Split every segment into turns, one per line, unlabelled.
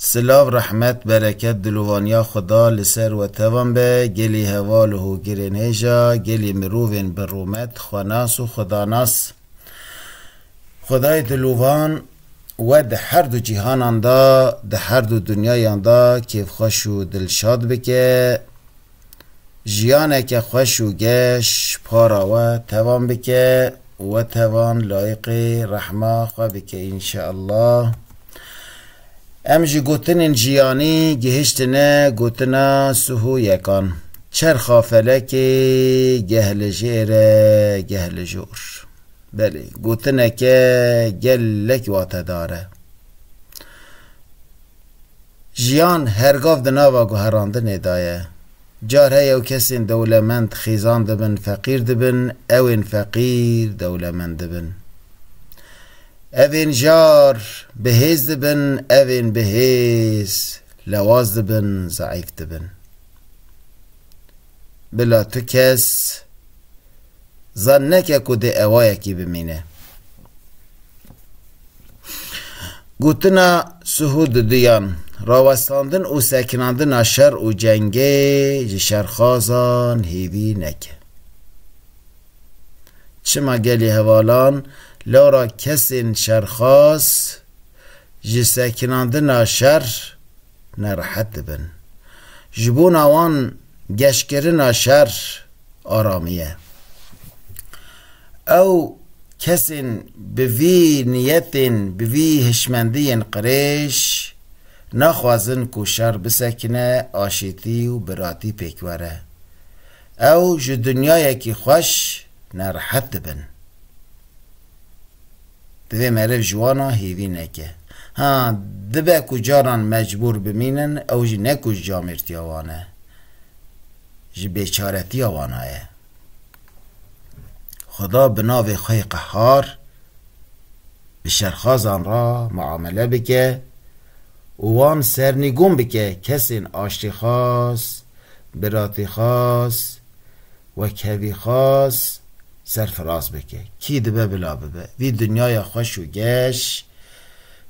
Silav rehmet bereket dilovaniya xuda li ser we tevan be gelî heval û hogirên hêja gelî mirovên bi rûmet xwenas û xudanas xudayê dilovan we di her du cîhanan de di her du dunyayan de kêfxweş û dilşad bike. jiyaneke xweş û geş para we tevan bike û we tevan layiqê rehma xwe bike înşeallah. Em ji gotinên jiyanî gihiştine gotina suhoyekan. Çerxa felekê geh li jê re geh li jor. Belê, gotineke gelek watedar e. Jiyan hergav di nava guherandinê de ye. Car heye û kesên dewlemend xîzan dibin, feqîr dibin, ewên feqîr dewlemend dibin. Evên jar bihêz dibin, evên bihêz lewaz dibin, zeîf dibin. Bila tu kes zan neke ku dê ewayekî bimîne. Gotina Suhû di duyan, rawestandin û sekinandina şer û cengê ji şerxazan hêvî neke. Çima gelê hevalan lora kesên şerxaz ji sekinandina şer nerehet dibin. Ji bona wan geşkirina şer aramî ye. Ew kesên bi vî niyetên, bi vî hişmendiyên qirêj naxwazin ku şer bisekine, aşîtî û biratî pêk were. Ew ji dinyayekî xweş nerehet dibin. Divê meriv ji wan a hêvî neke. Ha, dibe ku caran mecbûr bimînin, ew jî ne ku ji camêrtiya wan e, ji bêçaretiya wan a ye. Xweda bi navê xwe yê qehar bi şerxazan re miamele bike û wan sernîgûn bike kesên aştîxwaz, biratîxwaz, Wek hevî xas serfiraz bike. Kî dibe bila bibe. Vî dinyaya xweş û geş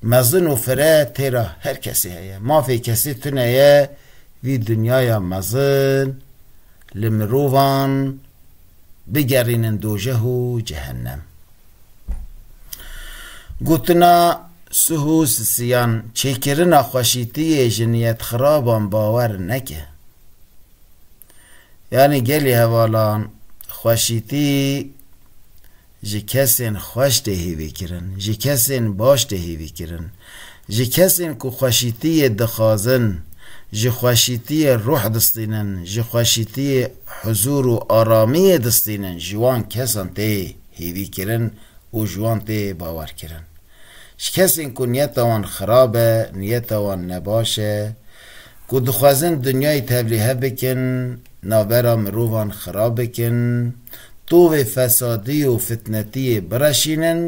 mezin û fire tê ra her kesî heye. Mafê kesî tune ye, vî dinyaya mezin li mirovan bigerînin dojeh û cehennem. Gotina Suhus Siyan, Çêkirina xweşîtiyê ji niyetxiraban bawer neke. Yanî gelê hevalan xweşîtî ji kesên xweş tê hêvîkirin, ji kesên baş tê hêvîkirin, ji kesên ku xweşîtiyê dixwazin, ji xweşîtiyê ruh distînin, ji xweşîtiyê huzûr û aramiyê distînin ji wan kesan tê hêvîkirin û ji wan tê bawerkirin. Ji kesên ku niyeta wan xirab e, niyeta wan nebaş e, ku dixwazin dinyayê tevlîhe bikin, navbera mirovan xirab bikin, tovê fesadî û fitnetiyê bireşînin,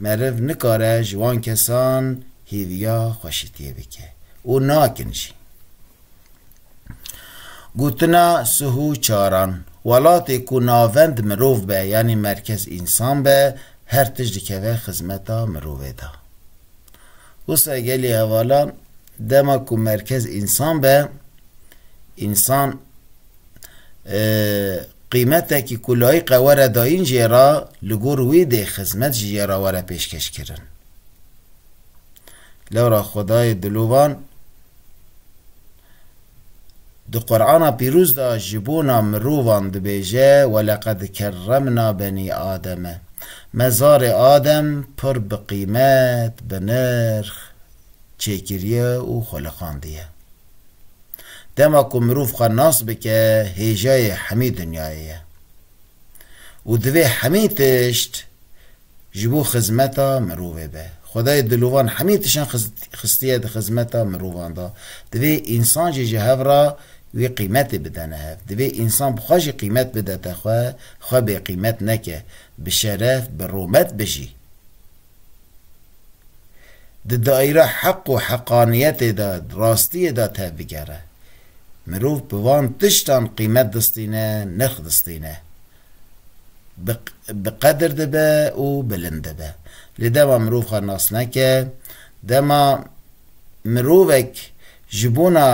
meriv nikare ji wan kesan hêviya xweşitiyê bike û nakin jî. Gotina Suhu Çaran, Welatê ku navend mirov be yanî merkez însan be, her tişt dikeve xizmeta mirovê de. Wisa gelê hevala dema ku merkez însan be, însan qîmetekî ku layiqe were dayîn jê re li gor wî dê xizmet ji jê re were pêşkeşkirin. Lewra Xwedayê Dilovan, Di Qur'ana pîroz de ji bona mirovan dibêje Welekad kerremna benî Ademe. Me zarê Adem pir bi qîmet, bi nirx çêkiriye û xweliqandiye. Dema ku mirov xwe nas bike hêjayê hemî dinyayê ye. Û divê hemî tişt ji bo xizmeta mirovê be. Xwedayê dilovan hemî tişan xistiye di xizmeta mirovan de. Divê însan jî ji hev re wî qîmetê bide ne hev. Divê însan bi xwe jî qîmet bidete xwe, xwe bêqîmet neke, bi şeref, bi romet bijî. Di daîra heq û heqaniyetê de, rastiyê de tevbigere. Mirov bi van tiştan qîmet distîne, nirx distîne. bi qedir dibe û bilind dibe. Lê dema mirov xwe nas neke, dema mirovek ji bona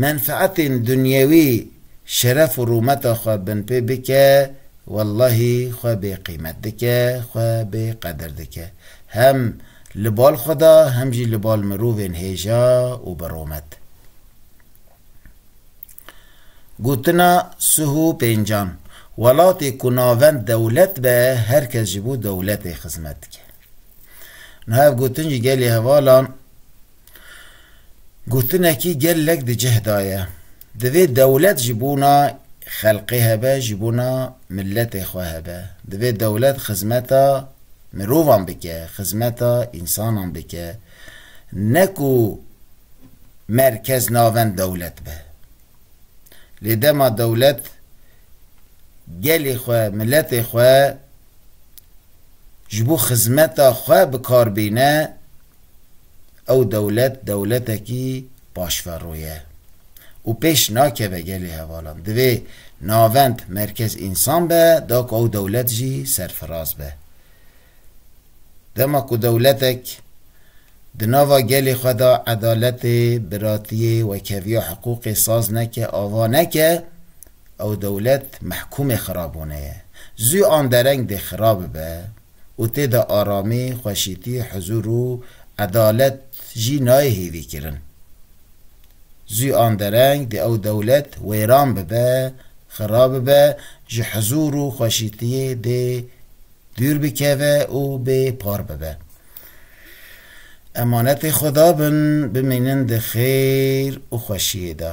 menfeetên dunyewî şeref û rûmeta xwe binpê bike, wellahî xwe bêqîmet dike, xwe bêqedir dike. Hem li bal xwe de hem jî li bal mirovên hêja û birûmet. Gotina Suhu Pêncan, Welatê ku navend dewlet be, her kes ji bo dewletê xizmet dike. Niha ev gotin ji gelê hevalan gotinekî gelek di cih de ye. Divê dewlet ji bona xelkê hebe, ji bona miletê xwe hebe. Divê dewlet xizmeta mirovan bike, xizmeta însanan bike. Ne ku merkez navend dewlet be. Lê dema dewlet gelê xwe, miletê xwe ji bo xizmeta xwe bi kar bîne, ew dewlet dewletekî paşverro ye û pêş nakeve gelê hevalan. Divê navend, merkez însan be da ku ew dewlet jî serfiraz be. Dema ku dewletek di nava gelê xwe de edaletê, biratiyê, wekhevîya hiqûqê saz neke, ava neke, ew dewlet mehkûmê xirabûnê ye. Zû an dereng dê xirab bibe û tê de aramî, xweşîtî, huzûr û edalet jî nayê hêvîkirin. Zû an dereng dê ew dewlet wêran bibe, xirab bibe, ji huzûr û xweşîtiyê dê Dûr bikeve û bê par bibe. Emanetê Xweda bin, bimînin di xêr û xweşiyê de.